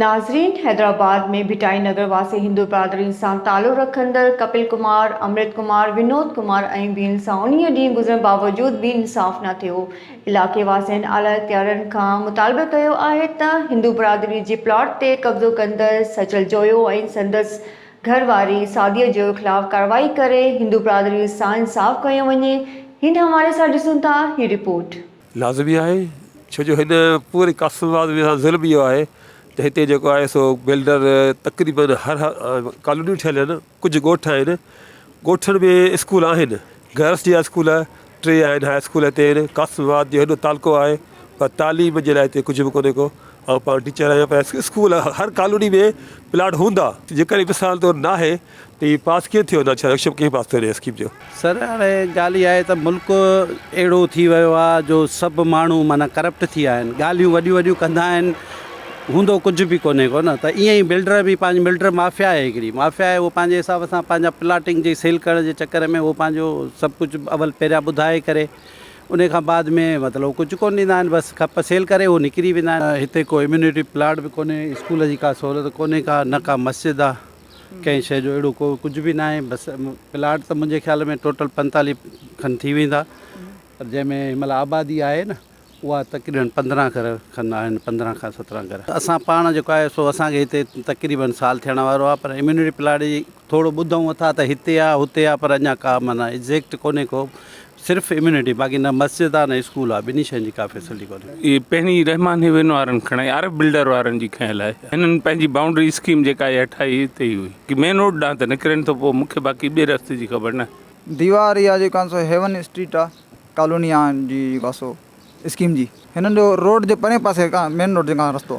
ناظرين حيدرآباد ۾ ڀٽائي نگر واسي هندو برادرين سان تعلق رکندڙ ڪپل ڪمار، امرت ڪمار، ونود ڪمار ۽ ٻين سان انهي ڏينهن گذرڻ باوجود به انصاف نه ٿيو، علائقي واسين اعليٰ اختيارين کان مطالبه ڪيو آهي ته هندو برادري جي پلاٽ تي قبضو ڪندڙ سچل جويو ۽ سندس گهر واري سعديه جو خلاف ڪارروائي ڪري هندو برادري سان انصاف ڪيو وڃي هن حوالي سان ڏسون ٿا هي رپورٽ. لازمي آهي ڇو جو هن پوري قاسم آباد ۾ سان ظلم اهو آهي ته هتي جيڪو آهي سو بلڊر تقريبا هر ڪالونيون ٺهيل آهن ڪجهه ڳوٺ آهن ڳوٺن ۾ اسڪول آهن گرلس جي اسڪول ٽي آهن هاء اسڪول هتي آهن قاسم آباد جو هيڏو تعلقو آهي پر تعليم جي لاء هتي ڪجهه به ڪونهي ڪو آئون پاڻ ٽيچر آهيان پر اسڪول هر ڪالوني ۾ پلاٽ هوندا جيڪڏهن مثال طور ناهي ته هي پاس ڪيئن ٿيو نوشهرو ايڪشن ڪيئن پاس ٿيو هن اسڪيم جو. سر هاڻي ڳالهه اها آهي ته ملڪ اهڙو ٿي ويو آهي جو سڀ ماڻهو معنيٰ ڪرپٽ ٿي ويا آهن ڳالهيون وڏيون وڏيون ڪندا آهن هوندو ڪجهه به ڪونهي ڪو نه ته ائين ئي بلڊر به پنهنجي بلڊر مافيا آهي هڪڙي مافيا آهي اهو پنهنجي حساب سان پنهنجا پلاٽنگ جي سيل ڪرڻ جي چڪر ۾ اهو پنهنجو سڀ ڪجهه اول پهريان ٻڌائي ڪري ان کان بعد ۾ مطلب ڪجهه ڪون ڏيندا آهن بس کپ سيل ڪري اهو نڪري ويندا آهن. هتي ڪو اميونٽي پلاٽ به ڪونهي اسڪول جي ڪا سهولت ڪونهي ڪا نه ڪا مسجد آهي ڪنهن شي جو اهڙو ڪو ڪجهه به ناهي بس پلاٽ ته منهنجي خيال ۾ ٽوٽل پنتاليهه کن ٿي ويندا پر جنهن ۾ هن مهل آبادي آهي نه اها تقريبن پندرهن گهر کن آهن پندرهن کان سترهن گهر اسان پاڻ جيڪو آهي سو اسان کي هتي تقريبن سال ٿيڻ وارو آهي پر اميونٽي پلاٽ جي ٿورو ٻڌون اٿا ته هتي آهي هتي آهي پر اڃا ڪا معنيٰ ايگزيڪٽ ڪونهي ڪو صرف اميونٽي باقي نه مسجد آهي نه اسڪول آهي ٻنهي شين جي ڪا فيسلٽي ڪونهي. اهي پهرين رحمان هيوين وارن کڻي آر ايف بلڊر وارن جي کنيل آهي هنن پنهنجي باونڊري اسڪيم جيڪا اها ٺاهي هتي ئي هئي ڪي مين روڊ ڏانهن ته نڪرين ٿو پوء مون کي باقي ٻئي رستي جي خبر ناهي. ديوار اها جيڪا سو هيون اسٽريٽ آهي ڪالوني آهن جي واسو اسڪيم جي هنن جو روڊ جي پرين پاسي کان مين روڊ جي کان رستو.